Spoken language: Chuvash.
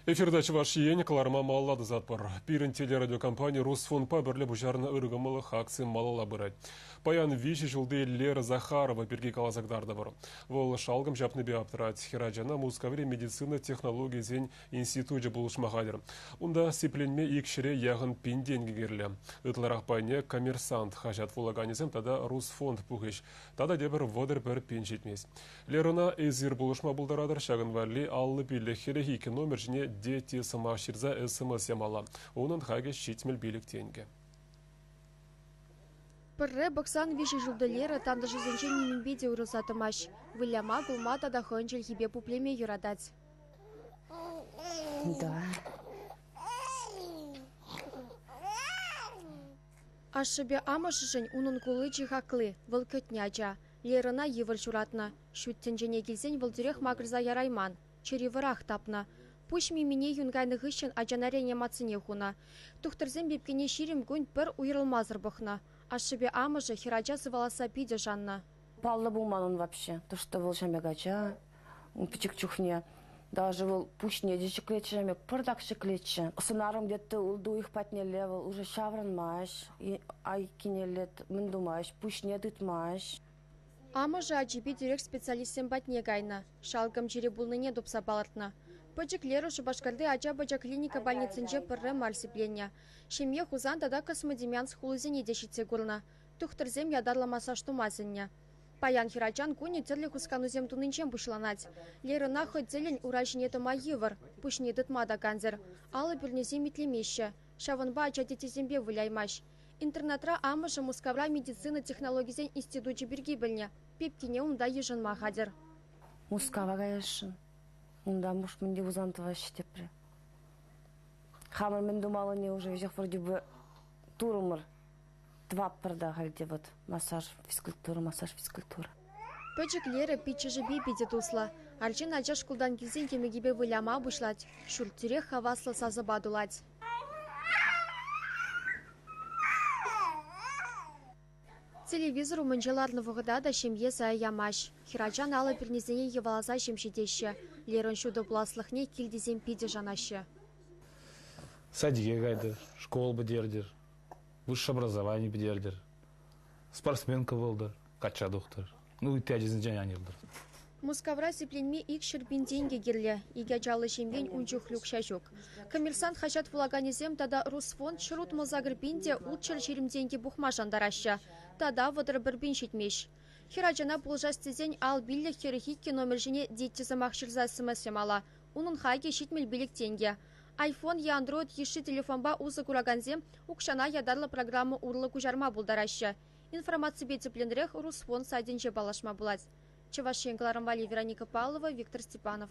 Эфирта Чӑваш Ен кӑларма малалла тӑсатпӑр. Пирӗн телерадиокомпани Росфонпа пӗрле пуҫарнӑ ыркӑмӑллӑх акци малалла пырать. Паян виҫӗ ҫулти Лера Захарова пирки каласа кӑтартӑпӑр. Вӑл шалкӑм ҫапнипе аптрать. Хӗр ачана Мускаври медицина технологийӗсен институчӗ пулӑшма хатӗр. Унта сипленме ик ҫӗре яхӑн пин тенкӗ кирлӗ. Ытларах пайне «Коммерсант» хаҫат вулаканӗсем тата «Русфонд» пухӗҫ. Тата тепӗр вӑтӑр пӗр пин ҫитмест. Лерӑна эсир пулӑшма пултаратӑр, ҫакӑн валли аллӑ пиллӗк хӗлӗх икӗ номер ҫине дети сӑмах ҫырса СМС ямалла. Унӑн хакӗ ҫитмӗл пилӗк тенкӗ. Пӗрре пӑхсан виҫӗ шевтолера тантӑшӗсенчен нимӗнпе те уйрӑлса тӑмасть. Выляма, кулма тата хӑйӗн чӗлхипе пуплеме юратать. Да. Ашшӗпе амӑшӗшӗн унӑн кулли чи хакли, вӑл кӗтнӗ ача. Лерӑна йывӑр ҫуратнӑ. Ҫут тӗнчене килсен вӑл тӳрех макӑрса ярайман, чӗри вӑрах тапнӑ. Пуҫ мимине юн кайнӑ хыҫҫӑн ачана реанимацине хунӑ. Тухтӑрсем пепкене ҫирӗм кун пӗр уйрӑлмасӑр пӑхнӑ. Ашшӗпе амӑшӗ хӗрача сываласса питӗ шаннӑ. Паллӑ пулман ун вообще, то что вӑл ҫамрӑк ача, пӗчӗк чухне. Даже вӑл пуҫне те ҫӗклетчӗ, ҫамек пӑртак ҫӗклетчӗ. Сӑнарӑм тетте ул дуйӑх патнелле вӑл уже ҫаврӑнмасть, айккинелле мӗн тумасть, пуҫне тытмасть. Амӑшӗ ачипе тӳрех специалистсем патне кайнӑ, шалкӑм чире пулнине тупса палӑртнӑ. Пӗчӗк Лера Шупашкарти ача-пӑча клиника больницинче пӗрре мар сипленнӗ. Ҫемье Хусан тата Космодемьянск хулисене те ҫитсе курнӑ. Тухтӑрсем ятарлӑ массаж тума сӗннӗ. Паян хӗрачан кунӗ тӗрлӗ хусканусем тунинчен пуҫланать. Лерӑна хӑй тӗллӗн ура ҫине тӑма йывӑр, пуҫне тытма та кансӗр. Алӑ пӳрнесем итлемеҫҫӗ, ҫавӑнпа ача тетесемпе выляймасть. Интернатра амӑшӗ Мускавра медицина технологисен институчӗ пирки пӗлнӗ. Пепкине унта йышӑнма хатӗр. Мускава каясшӑн. Унтан Бушмунди Хусан тӑваҫҫӗ тепре. Хамӑр мӗн тумаллине уже веҫех вроде бы турӑмӑр. Тӑватпӑр та халь те вӑт, массаж, физкультура, массаж, физкультура. Пӗчӗклерӗ, пиччӗшӗпе питӗ туслӑ. Арҫын ача шкултан килсен йӗмӗкӗпе выляма пуҫлать, ҫурт-тӳрех хаваслӑ сасӑпа тулать. Телевизор умӗнче ларнӑ вӑхӑта та ҫемье сая ямасть. Хӗрачан алӑ пӳрнисене йӑваласа ҫем ҫитеҫҫӗ. Лерӑн ҫутӑ пуласлӑхне кил тесен питӗ шанаҫҫӗ. Садике кайтӑр, школ пӗтертӗр. высшее образование пӗтертӗр. Спортсменка вӑлтӑр, качча тухтӑр. Ну, ытти ачасенчен ан йӑлтӑр. Мускавра сипленме икҫӗр пин тенкӗ кирлӗ. Икӗ ачаллӑ ҫемьен ун чухлӗ укҫа ҫук. Коммерсант хаҫат вулаканӗсем тата Русфонд ҫӗр утмӑлсакӑр пин те ултҫӗр ҫирӗм тенкӗ пухма шантараҫҫӗ. Тата вӑтӑр пӗр пин ҫитмест. Хӗр ачана пулӑшас тесен ал пиллӗх хӗрӗх иккӗ номер ҫине детти сӑмах ҫырса смс ямалла. Унӑн хакӗ ҫитмӗл пилӗк тенкӗ. iPhone е Android йышши телефонпа усӑ куракансем укҫана ятарлӑ программа урлӑ куҫарма пултараҫҫӗ. Информаципе тӗплӗнрех Русфон сайтӗнче паллашма пулать. Чӑваш Ен кӑларӑм валли Вероника Павлова, Виктор Степанов.